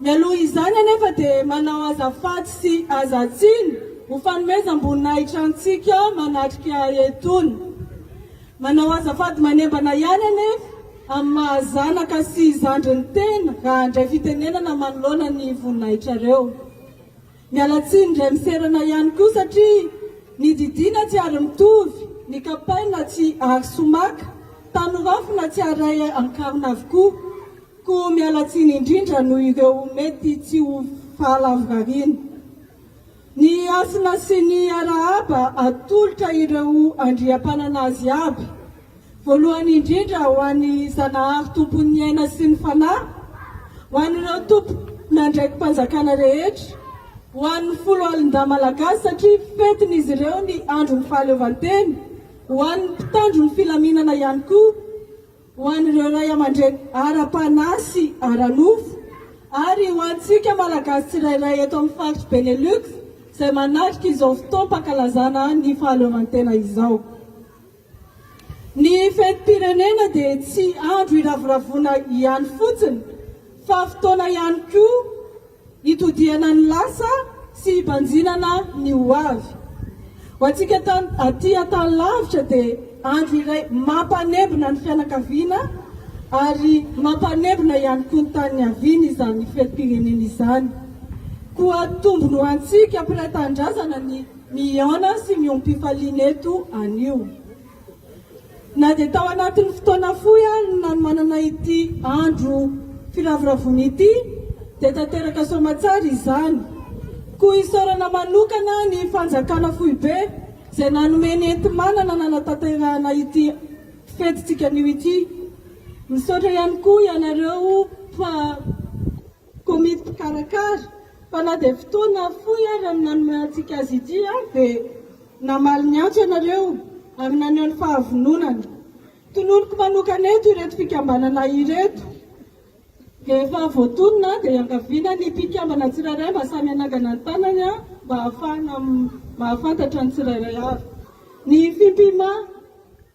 Mialoha izany anefa dia manao azafady sy hazatsiny ho fanomezam-boninahitra antsika manatrika etona. Manao azafady manembana ihany anefa amin'ny maha zanaka sy zandry ny tena raha handray fitenenana manoloana ny voninahitrareo. Miala tsiny indray miserana ihany koa satria ny didiana tsy ary mitovy, ny kapaina tsy ary somaka, tanorafina tsy ary ankarona avokoa. Koa miala tsiny indrindra noho ireo mety tsy ho fahalavorariana. Ny Hasina sy ny Arahaba atolotra ireo andriampanana azy avy, voalohany indrindra ho an'i Zanahary Tompon'ny aina sy ny fanahy, ho an'ireo tompon'andraiki-panjakana rehetra, ho an'ny foloalindahy malagasy satria fetin'izy ireo ny andron'ny fahaleovantena, ho an'ny mpitandro ny filaminana ihany koa. ho an'ireo ray aman-dreny ara-panahy sy ara-nofo ary ho antsika Malagasy tsirairay eto amin'ny faritry Benelux izay manatrika izao fotoam-pankalazana ny fahaleovantena izao. Ny fetim-pirenena dia tsy andro hiravoravoana ihany fotsiny fa fotoana ihany koa Hitodihana ny lasa sy hibanjinana ny ho avy. Ho antsika aty Antanilavitra dia andro iray mampanembona ny fianakaviana ary mampanembona ihany koa ny tany niaviana izany fetim-pirenena izany. Koa tombony ho antsika mpiray tanindrazana ny mihaona sy miombom-pifaliana eto anio. Na dia tao anatin'ny fotoana fohy ary no nanomanana ity andro firavoravoana ity dia tanteraka soamatsara izany. Koa isaorana manokana ny Fanjakana foibe izay nanome ny enti-manana nanatanterahana ity fetintsika anio ity. Misaotra ihany koa ianareo fa. Komity mpikarakara, fa na dia fotoana fohy ary no nanome antsika azy ity dia namaly ny antso ianareo ary naneho ny fahavononany. Tononiko manokana eto ireto fikambanana ireto dia efa voatonona dia iangaviana ny mpikambana tsirairay mba samy hanangana ny tanany mba hahafahana mahafantatra ny tsirairay avy ny fimpima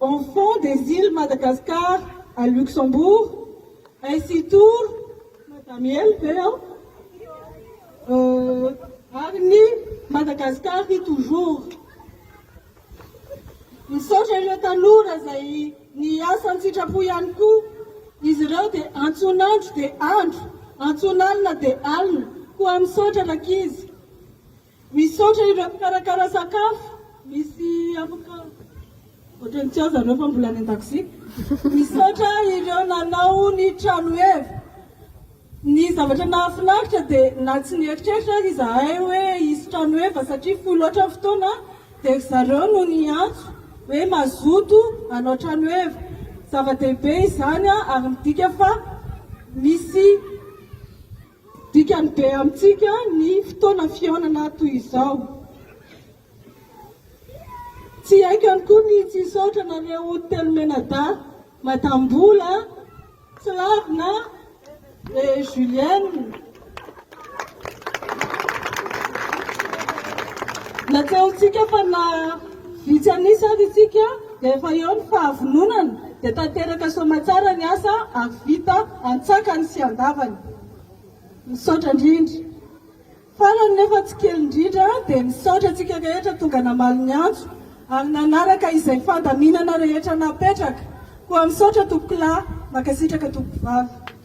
Enfants des Iles Madagascar à Luxembourg, ainsi tour Madamiel ve aho? euh, ary ny Madagascar ry toujours. Misaotra ireo tanora izay niasa an-tsitrapo ihany koa. Izy ireo dia antson'andro dia andro, antson'alina dia alina. Koa misaotra rankizy. Misaotra ireo mpikarakara sakafo misy afaka Ohatran'ny tsy ao zareo fa mbola any an-dakozia. Misaotra ireo nanao ny tranoheva. Ny zavatra nahafinaritra dia na tsy nieritreritra aza izahay hoe hisy tranoheva satria fohy loatra ny fotoana dia ry zareo no niantso hoe mazoto hanao tranoheva. Zava-dehibe izany ary midika fa misy Dikany be amintsika ny fotoana fihaonana toy izao. Tsy haikany koa ny tsy hisaotra anareo telo mianadahy, Madame Mbola, Tsilavina et Julienne. Natsahontsika fa na. Vitsy an'isa ary isika dia efa eo ny fahavononana dia tanteraka soamatsara ny asa ary vita antsakany sy andavany. Misaotra indrindra. Farany nefa tsy kely indrindra dia misaotra antsika rehetra tonga namaly ny antso ary nanaraka izay fandaminana rehetra napetraka. Koa misaotra Tompokolahy. Mankasitraka Tompokovavy.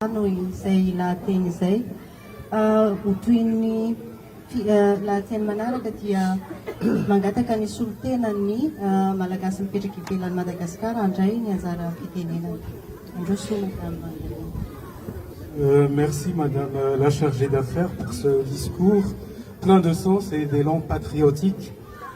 Maro izay lahateny izay. Ho toy ny lahateny manaraka dia mangataka ny solontenan'ny Malagasy mipetraka ivelan'i Madagasikara handray ny anjara fitenenany. Mandroso Madame Mandelena. Merci Madame la Chargée d'Affaires pour ce discours plein de sens et d'élan patriotique.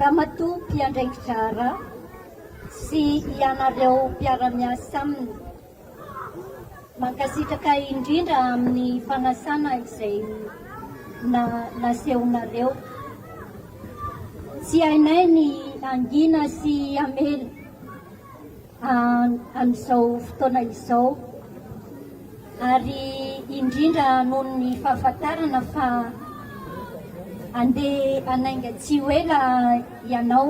Ramatoa mpiandraiki-draharaha sy ianareo mpiara-miasa aminy. Mankasitraka indrindra amin'ny fanasana izay na nasehonareo. Tsy hainay ny hangina sy hamela. amin'izao fotoana izao ary indrindra noho ny fahafantarana fa andeha hanainga tsy ho ela ianao.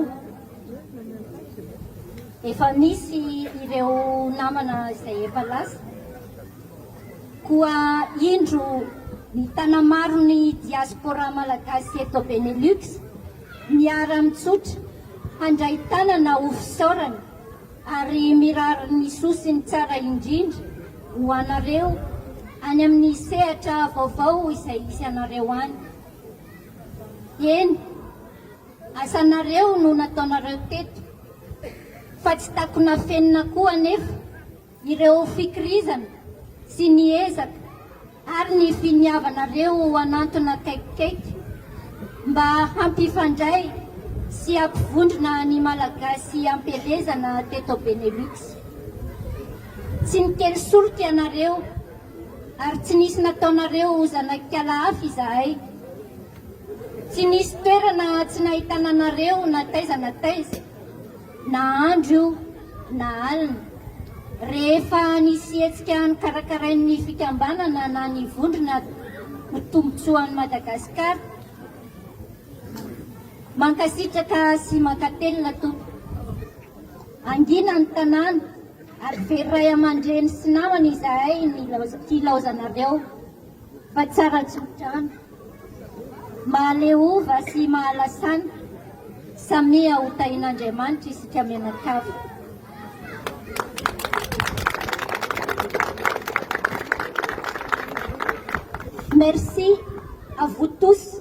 Efa misy ireo namana izay efa lasa. Koa indro ny tana-maro ny diaspora malagasy eto Benelux Miara-mitsotra handray tanana ho fisaorana ary mirary ny soa sy ny tsara indrindra ho anareo any amin'ny sehatra vaovao izay hisy anareo any. Eny, asanareo no nataonareo teto fa tsy takona afenina koa anefa. ireo fikirizana sy ny ezaka ary ny finiavanareo ho hanantona akaikikaiky mba hampifandray sy hampivondrona ny Malagasy am-pielezana teto Benelux. Tsy nikely solika ianareo ary tsy nisy nataonareo ho zanak'ala hafa izahay. Tsy nisy toerana tsy nahitana anareo na taiza na taiza. Na andro io na alina, rehefa nisy hetsika nokarakarain'ny fikambanana na ny vondrona ho tombontsoan'i Madagasikara. Mankasitraka sy mankatelina Tompo. Hangina ny tanàna ary very ray aman-dreny sy namana izahay nilaozanareo. fa tsara tsodrano, mahaleova sy mahalasana, samia ho tahin'Andriamanitra isika mianakavy. Merci à vous tous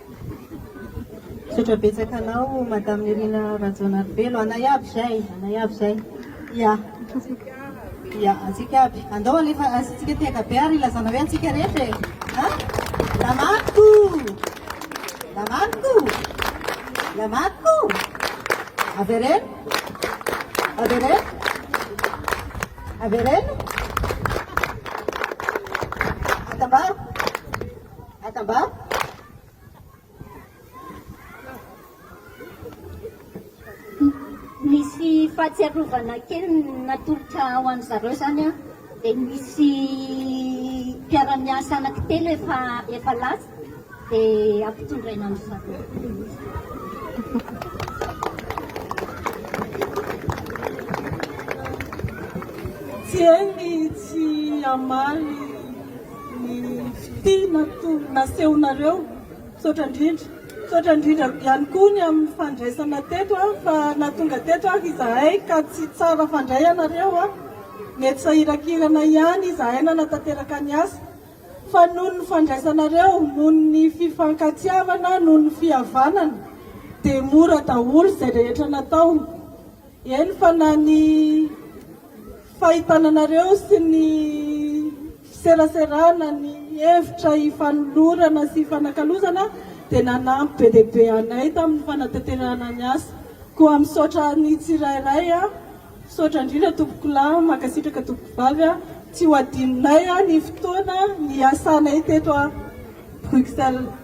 Misaotra betsaka anao Madame Nirina Rajaonarivelo a anay aby zay anay aby zay ia ia antsika aby andao alefa asintsika tehaka be ary ilazana hoe antsika rehetra e a la marco la marco la marco avereno avereno avereno atambaro Misy fahatsiarovana kely natolotra ho an'ny zareo zany an, dia nisy mpiara-miasa anaky telo efa efa lasa dia ampitondraina an-dry zareo. Tsy hay ny tsy hamaly. Ny fitia matoa nasehonareo, misaotra indrindra. Misaotra indrindra ihany koa ny amin'ny fandraisana teto aho fa nahatonga teto ary izahay ka tsy tsara fandray ianareo a. Nety sahiran-kirana ihany izahay nanatanteraka ny asa fa noho ny fandraisanareo, noho ny fifankatiavana, noho ny fihavanana dia mora daholo izay rehetra natao. Eny fa na ny fahitananareo sy ny fiseraserana ny hevitra hifanolorana sy hifanakalozana dia nanampy be dia be anay tamin'ny fanatanterahana ny asa. Koa misaotra ny tsirairay a! Misaotra indrindra tompokolahy, mankasitraka tompokovavy a! Tsy ho adinonay ny fotoana niasanay teto a Bruxelles.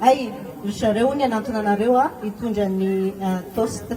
Hay, ry zareo hono ianantona anareo a, hitondra ny toast.